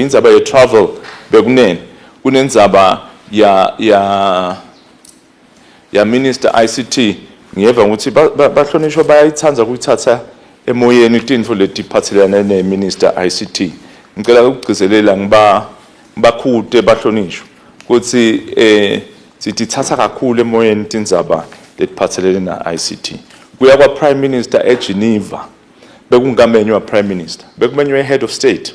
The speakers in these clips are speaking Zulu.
Indzaba ye travel bekunene kunendzaba ya ya ya minister ICT ngiyeva ukuthi bahlonishwa bayayithanda ukuyithatha emoyeni tinfo letiphathelene ne minister ICT ngicela ukugcizelela ngiba bakhute bahlonishwa ukuthi eh sitithatha kakhulu emoyeni tindzaba letiphathelene na ICT kuya kwa prime minister eGeneva bekungamenywa prime minister bekumenywe head of state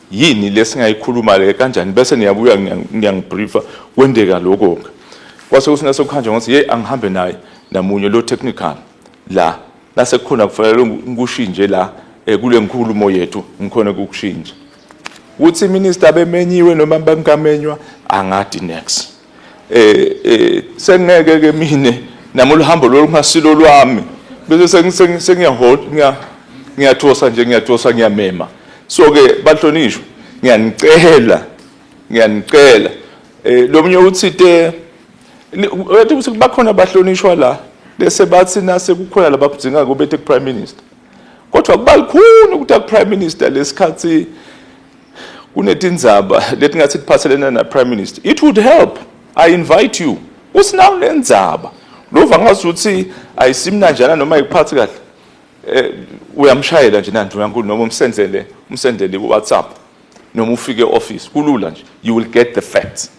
yini lesingayikhuluma le kanjani bese niyabuya ngiyangibriefa kwendeka lokho ke kwase kusina sokuhanjwa ngothi hey angihambe naye namunye lo technical la lase khona kufanele ngikushinje la eh, kule nkulumo yethu ngikhona kukushinja ukuthi minister bemenyiwe noma bangamenywa angadi next eh eh sengeke ke mina nami oluhambo lolungasilo lwami bese sengiyahola ngiya ngiyathosa nje ngiyathosa ngiyamema so ke bahlonishwa ngiyanicela ngiyanicela eh lomunye uthi te wathi ukuthi bakhona abahlonishwa la bese bathi nase kukhona labakudinga kube te prime minister kodwa kubalukhuni ukuthi prime minister lesikhathi kunetindzaba letingatsi tiphatselene na-prime minister it would help i invite you usinawo nendzaba lova ngazi ukuthi ayisimnanjana noma ayikuphathi kahle eh, uyamshayela nje nandlu yankulu noma umsendele umsendele ku-whatsapp noma ufike e-office kulula nje you will get the facts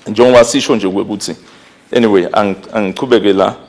njengoba sisho nje ukuthi anyway angichubeke la